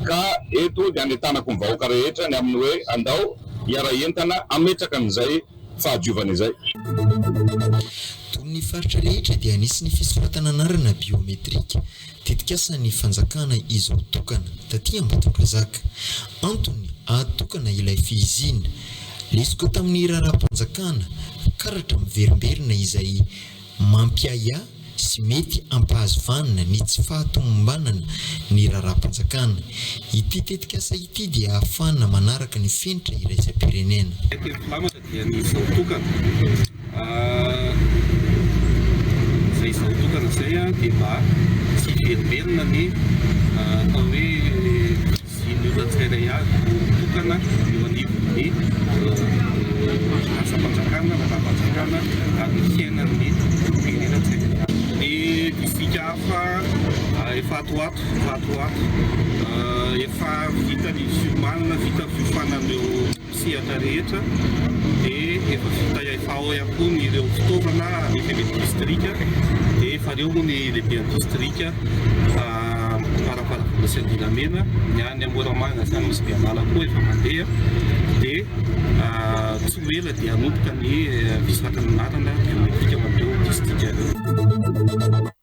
ka eto dia anentanako ny vahoaka rehetra ny amin'ny hoe andao hiara-hientana hametraka an'izay fahadiovana izay. Tony ny faritra rehetra dia hanisy ny fisoratana anarana biometrika, tetikasan'ny fanjakana izao tokana, taty Ambatondrazaka. Antony, hahatokana ilay fihizina. Lesoka tamin'ny raharaham-panjakana, karatra miverimberina izay Mampiahiahy sy mety hampahazo vanina ny tsy fahatomombanana ny raharaham-panjakana. Ity tetikasa ity dia ahafahana manaraka ny fenitra iraisam-pirenena. Ny telo mpamatra dia ny izao tokana. Izay izao tokana izay dia mba tsy hiverimberina ny atao hoe. sy ny olona tsirairay avy tokana eo anivon'ny asam-panjakana, lalàm-panjakana ary ny fiainan'ny olom-pirenena tsirairay avy. Ny distrika hafa efa ato ho ato, efa ato ho ato, efa vita ny ziomanana, vita ny fiofanana eo. sehatra rehetra dia efa vita ihany efa ao ihany koa ny ireo fitaovana avy any amin'ny distrika dia efa ireo moa ny lehiben'ny distrika fa farafahakeliny sy Andilamena ny any amin'ny Moramanga sy any Nosy-Bealala koa efa mandeha dia tsy ho ela dia hanomboka ny fisakanana lalana biometrika ho an'ireo distrika ireo.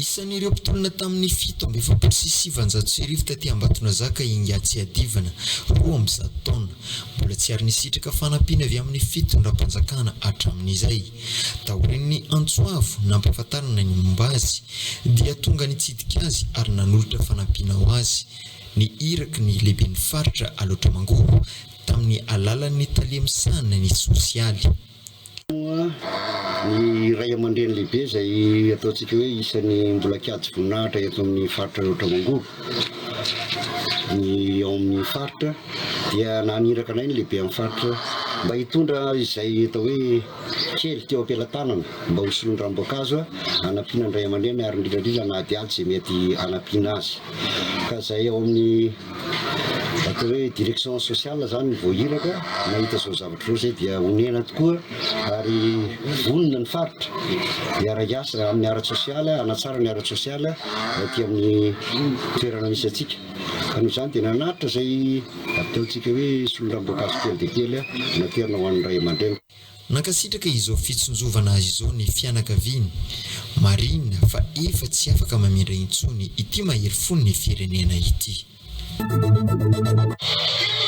Isan'ireo mpitolona tamin'ny fito amby efapolo sy sivanjato sy arivo taty Ambatonazaka i Ingahy Tsiadivana, roa amby zato taona. Mbola tsy ary nisitraka fanampiana avy amin'ny fitondram-panjakana hatramin'izay. Taorian'ny antso avo nampahafantarana ny momba azy, dia tonga nitsidika azy ary nanolotra fanampiana ho azy ny iraky ny lehiben'ny faritra Alaotra Mangoro, tamin'ny alalan'ny tale misahana ny sosialy. Moa ny ray aman-dreny lehibe izay ataontsika hoe isan'ny mbola kiaty voninahitra eto amin'ny faritra Alaotra Mangoro ny ao amin'ny faritra dia naniraka anay ny lehiben'ny faritra mba hitondra izay atao hoe kely teo am-pelatanana mba ho solon'ny ranom-boankazo hanampiana ny ray aman-dreny ary indrindra indrindra na adiady izay mety hanampiana azy ka izay ao amin'ny atao hoe direction sociale zany vao iraka nahita zao zavatra zao zay dia onena tokoa ary vonona ny faritra miara hiasa amin'ny ara tsosialy anatsara ny ara tsosialy aty amin'ny toerana misy atsika ka noho izany dia nanaritra zay ataontsika hoe solondramboakazo kely de kely naterina ho an'ny ray aman-dreny Nankasitraka izao fitsinjovana azy izao ny fianakaviany. Marihina fa efa tsy afaka mamindra intsony ity mahery fon'ny firenena ity.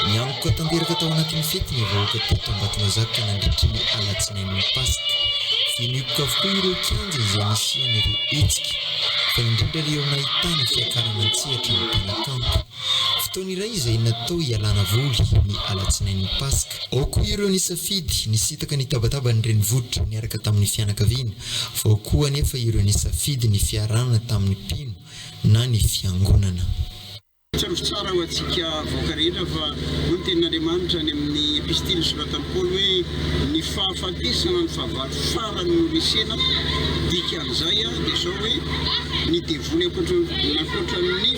Nianoka tanteraka tao anatin'ny fety ny vahoaka teto Ambatomazaka nandritry ny alatsinain'ny Paska. Fenioka avokoa ireo kianja izay nisian'ireo hetsika, fa indrindra ireo nahitana fiakarana an-tsehatra ny mpanakanto. Fotoana iray izay natao hialana voly ny alatsinain'ny Paska. Ao koa ireo nisafidy nisintaka ny tabataban'ny renivohitra niaraka tamin'ny fianakaviana, fa ao koa anefa ireo nisafidy ny fiarahana tamin'ny mpino na ny fiangonana. Tsarovy tsara ho antsika vahoaka rehetra fa hoy ny Tenin'Andriamanitra any amin'ny Epistily nosoratan'i Paoly hoe, Ny fahafatesana no fahavalo farany noresena, dikan'izay dia izao hoe, ny devoly ankoatran'ny.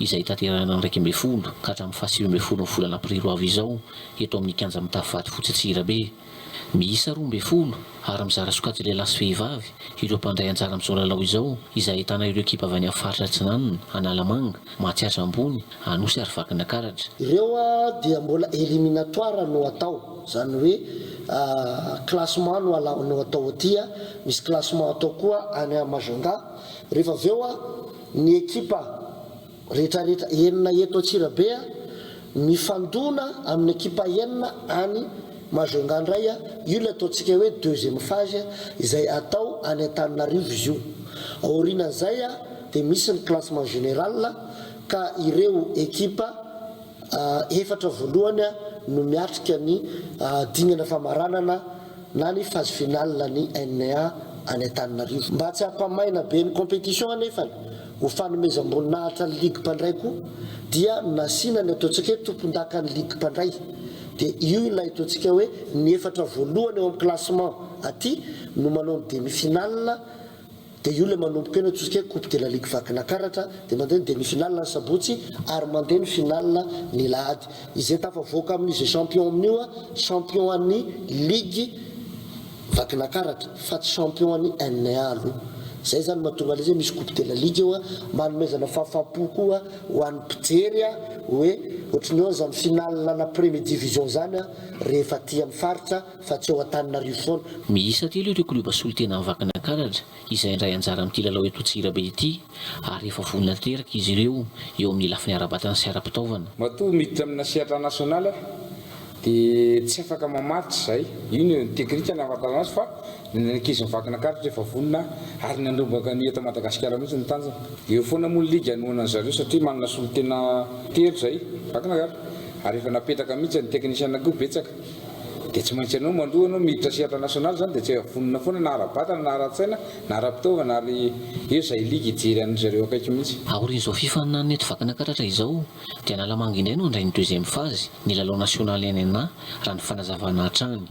izay hitanterahana ny iraika ambin'ny folo ka hatramin'ny fahasivy ambin'ny folo ny volana aprily ho avy izao eto amin'ny Kianja Mitafo Vatofotsy Antsirabe. Miisa roa ambin'ny folo ary mizara sokajy lehilahy sy vehivavy ireo mpandray anjara amin'izao lalao izao izay ahitana ireo ekipa avy any amin'ny faritra Atsinanana, Analamanga, Mahatsiatra Ambony, Anosy ary Vakinakaratra. Ireo dia mbola eliminatoires no atao, izany hoe classement no alao no atao aty, misy classement atao koa any Majunga, rehefa avy eo. Ny ekipa rehetrarehetra enina eto Antsirabe mifandona amin'ny ekipa enina any Majunga indray, io ilay ataontsika hoe deuxième phase izay atao any Antananarivo izy io. Aorianan'izay dia misy ny classement général ka ireo ekipa efatra voalohany no miatrika ny dingana famaranana. na ny phase finale ny NA any Antananarivo. Mba tsy hampamaina be ny competition anefany ho fanomezam-boninahitra ny ligue mpandray koa dia nasiana ny ataontsika hoe tompondakan'ny ligue mpandray dia io ilay ataontsika hoe ny efatra voalohany ao amin'ny classement aty no manao ny demi finale Dia io ilay manomboka eo ny atosika hoe coupe de la ligue vakina karatra, dia mandeha ny demi finale ny sabotsy ary mandeha ny finale ny lahady. Izay tafavoaka amin'ny izay champion amin'io a, champion an'ny ligue vakina karatra fa tsy champion an'ny NA aloha. Izay izany no mahatonga ilay izy hoe misy coupe de la ligue eo a, manomezana fahafam-po koa ho an'ny mpijery a, hoe ohatry ny hoe izany finale ana premier division izany a, rehefa aty amin'ny faritra, fa tsy ao Antananarivo foana. Miisa telo ireo klioba solontena any Vakinankaratra izay handray anjara amin'ity lalao eto Antsirabe ity ary efa vonona tanteraka izy ireo eo amin'ny lafiny ara-batana sy ara-pitaovana. Matoa miditra amina sehatra nasionaly aho dia tsy afaka mamaritra izay, io no teknika nahafantarana azy fa ny ankizin'i Vakinankaratra efa vonona ary nandrombaka ny eto Madagasikara mihitsy ny tanjona. Eo foana moa ny ligy hanohanan'ny zareo satria manana solontena telo izay Vakinankaratra ary efa napetraka mihitsy ny teknisiana koa betsaka. Dia tsy maintsy ianao maloha ianao miditra sehatra nationale zany dia tsy hay vonona foana na ara-batana na ara-tsaina na ara-pitaovana ary eo izay ligue hijery an-dry zareo akaiky mihitsy. Aorian'izao fifaninanana eto Vakana Karatra izao dia Analamanga indray no handray ny deuxième phase ny lalao nationale NNA raha ny fanazavana hatrany.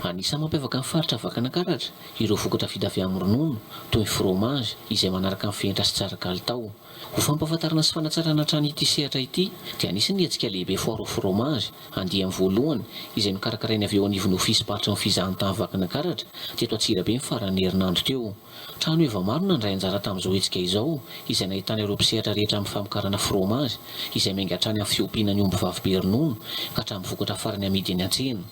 Anisan'ny mampiavaka ny faritra Vakana Karatra ireo vokatra vita avy amin'ny ronono toy ny fromage izay manaraka ny fehintra sy tsara kalitao. Ho fampahafantarana sy fanatsarana hatrany ity sehatra ity dia anisan' ny hetsika lehibe Foire au fromage andiany voalohany izay nokarakaraina avy eo anivon'ny Ofisim-paritry ny Fizahantany Vakinankaratra teto Antsirabe ny faran'ny herinandro teo. Trano eva maro no nandray anjara tamin'izao hetsika izao izay nahitana ireo mpisehatra rehetra amin'ny famokarana fromage izay miainga hatrany amin'ny fiompiana ny ombivavy be ronono ka hatramin'ny vokatra farany amidy eny an-tsena.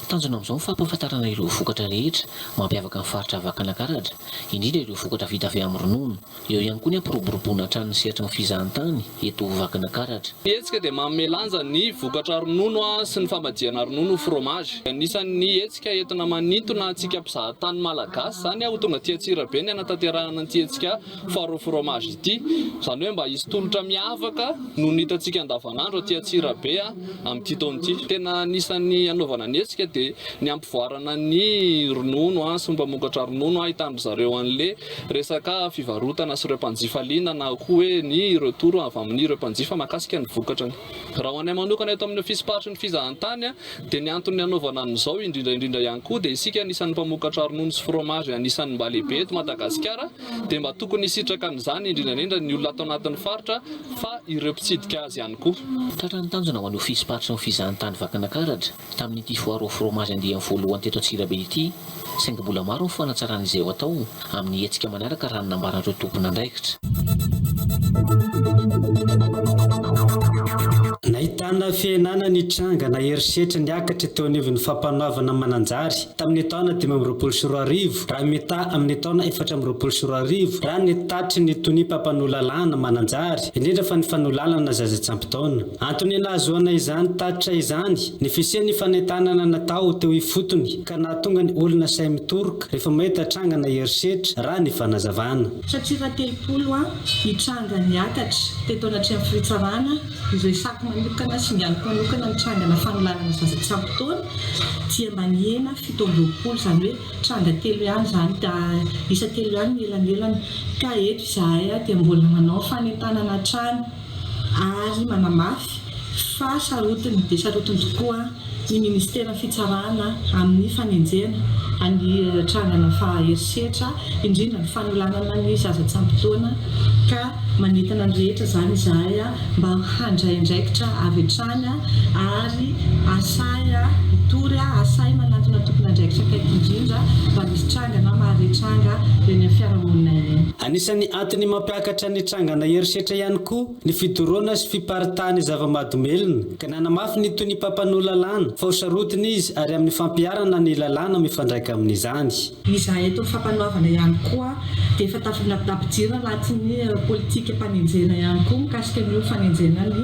Tanjona amin'izao ny fampahafantarana ireo vokatra rehetra mampiavaka ny faritra Vakinankaratra indrindra ireo vokatra vita avy amin'ny ronono. Eo ihany koa ny hampiroboroboana hatrany ny sehatry ny fizahantany eto ho Vakinakaratra. Ny hetsika dia manome lanja ny vokatra ronono sy ny famadihana ronono ho fromazy. Anisan'ny hetsika entina manintona antsika mpizahatany malagasy izany ho tonga aty Antsirabe ny hanatanterahana an'ity hetsika Foire au fromage ity. Izany hoe mba hisy tolotra miavaka noho ny hitantsika andavanandro aty Antsirabe amin'ity taona ity. Tena anisan'ny hanaovana ny hetsika dia ny hampivoarana ny ronono sy ny mpamokatra ronono hahitany ry zareo an'le Resaka fivarotana sy ireo mpanjifa liana na koa hoe ny retour avy amin'ireo mpanjifa mahakasika ny vokatrany. Raha ho anay manokana eto amin'ny Ofisym-paritry ny Fizahantany dia ny antony nanaovana an'izao indrindra indrindra ihany koa dia isika anisan'ny mpamokatra ronono sy fromage anisan'ny mba lehibe eto Madagasikara dia mba tokony hisitraka an'izany indrindra indrindra ny olona ato anatin'ny faritra fa ireo mpitsidika azy ihany koa. Tratran'ny tanjona ho an'ny Ofisym-paritry ny Fizahantany Vakinankaratra. Tamin'ity foara ao Fromazy andiany voalohany teto Antsirabe ity, saingy mbola maro ny fanatsarana izay ho atao amin'ny hetsika manaraka raha ny nambaran'ireo tompon'andraikitra. Nahitana fihenana ny tranga na herisetra niakatra teo anivon'ny Fampanoavana Mananjary tamin'ny taona dimy amby roapolo sy roa arivo raha mitaha amin'ny taona efatra amby roapolo sy roa arivo raha ny tatry ny Tonimpampanolalalana Mananjary, indrindra fa ny fanolalana zaza tsy ampy taona. Antony nahazoana izany tatitra izany ny fisian'ny fanentanana natao teo ifotony ka nahatonga ny olona sahy mitoroka rehefa mahita trangana herisetra, raha ny fanazavana. Satira telopolo ha ny tranga niakatra teto anatrehan'ny firitsarana ireo saky manokana sy mialoko manokana ny trangana fanolanana zaza tsy ampy taona dia mba nihena fito amby roapolo izany hoe tranga telo ihany izany da isa telo ihany ny elanelany ka eto izahay dia mbola manao fanentanana hatrany ary manamafy fa sarotiny dia sarotiny tokoa ny Ministeran'ny Fitsarana amin'ny fanenjehana ny trangana faha herisetra, indrindra ny fanolanana ny zaza tsy ampy taona ka manentana ny rehetra izany izahay mba handray andraikitra avy hatrany ary asahy hitory, asahy manantona tompon'andraikitra akaiky indrindra raha misy trangana maha retranga eny amin'ny fiarahamonina eny. Anisan'ny antony mampiakatra Nitrangana herisetra ihany koa ny fidoroana sy fiparitahan'ny zava-mahadomelina, ka nanamafy ny tohin'ny mpampanoa lalàna fa ho sarotiny izy ary amin'ny fampiharana ny lalàna mifandraika amin'izany. Ny za eto Fampanoavana ihany koa dia efa tafidinapidapy jiro anatin'ny politika mpanenjena ihany koa mikasika an'io fanenjena ny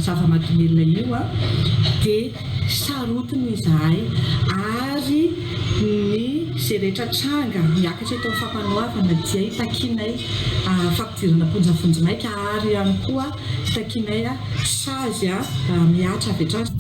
zava-mahadomelina io dia Sarotiny izahay ary ny izay rehetra tranga miakatra eto amin'ny Fampanoavana dia itakianay fampidirana am-ponja vonjimaika ary ihany koa itakianay sazy mihatra avy hatrany.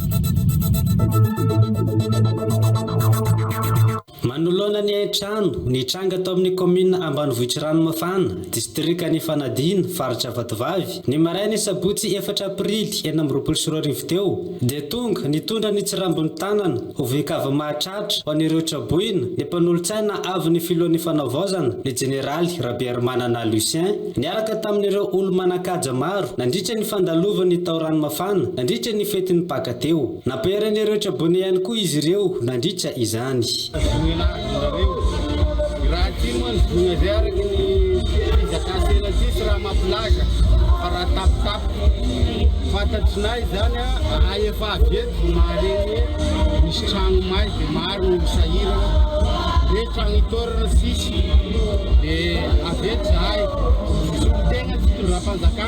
Manoloana ny hain-trano nitranga tao amin'ny kaominina ambanivohitr'i Ranomafana, distrikan' Ifanadiana, faritra Vatovavy, ny marain'ny sabotsy efatra aprily enina amby roapolo sy roa arivo teo, dia tonga nitondra ny tsirambin'ny tanana ho voin-kavy mahatratra ho an'ireo traboina ny mpanolotsaina avy ny filohan'ny Fanavaozana, ny jeneraly Rabearimanana Lucien, niaraka tamin'ireo olo-manan-kaja maro nandritra ny fandalovan'ny tao Ranomafana nandritra ny fetin'ny Paka teo. Nampiharin'ireo tribunaux ihany koa izy ireo nandritra izany. Tazonina avy nareo. Raha aty moa ny voina izay araka ny fizakantena aty tsy raha mampilaza fa raha tapitapitra. Fantatrinay izany raha efa avy eto vao mahare ny hoe misy tragno may dia maro ny sahirana. Hoe tragno itaorana tsisy dia avy eto izahay. Solontenan'ny fitondram-panjakana.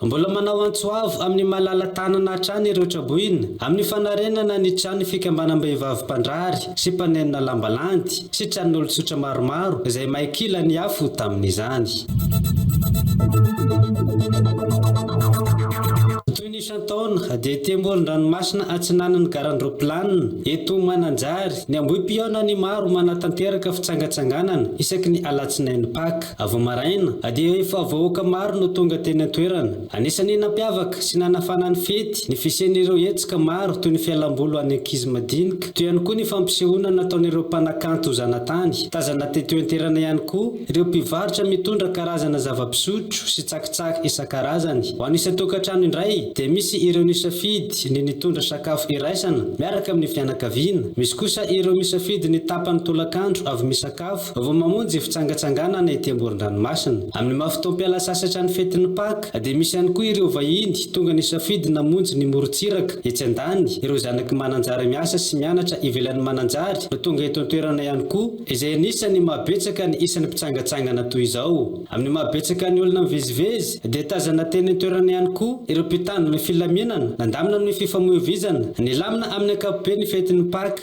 Mbola manao antso avo amin'ny malala-tanana hatrany ireo traboina amin'ny fanarenana ny trano fikambanam-behivavy mpandrary sy mpanenona lamba landy sy tranon'olon-tsotra maromaro izay may kila ny afo tamin'izany. Toy ny isan-taona dia ety amoron-dranomasina atsinanan'ny garandraoplanina eto Mananjary ny ambohipihaonan'ny maro manatanteraka fitsangatsanganana isaky ny alatsinainy Pak. Vao maraina, dia efa vahoaka maro no tonga teny an-toerana. Anisan'ny nampiavaka sy nanafana ny fety ny fisian'ireo hetsika maro toy ny fialam-boly ho an'ny ankizy madinika, toy ihany koa ny fampisehoana nataon'ireo mpanakanto zanatany. Tazana teto an-toerana ihany koa ireo mpivarotra mitondra karazana zava-pisotro sy tsakitsaky isan-karazany. Ho an'ny isan-tokantrano indray, dia misy ireo nisafidy ny nitondra sakafo iraisana miaraka amin'ny fianakaviana, misy kosa ireo misafidy ny tapany tolakandro avy misakafo. Vao mamonjy fitsangatsanganana ety amoron-dranomasina. Amin'ny maha fotoam-piala sasatra ny fetin'ny Paka, dia misy ihany koa ireo vahiny tonga nisafidy namonjy ny morontsiraka etsy an-dany, ireo zanaky Mananjary miasa sy mianatra ivelan'i Mananjary no tonga eto an-toerana ihany koa, izay anisan'ny maha betsaka ny isan'ny mpitsangatsangana toy izao. Amin'ny maha betsaka ny olona mivezivezy, dia tazana teny an-toerana ihany koa ireo mpitandro ny filaminana, nandamina amin'ny fifamoivoizana, nilamina amin'ny ankapobeny ny fetin'ny Paka.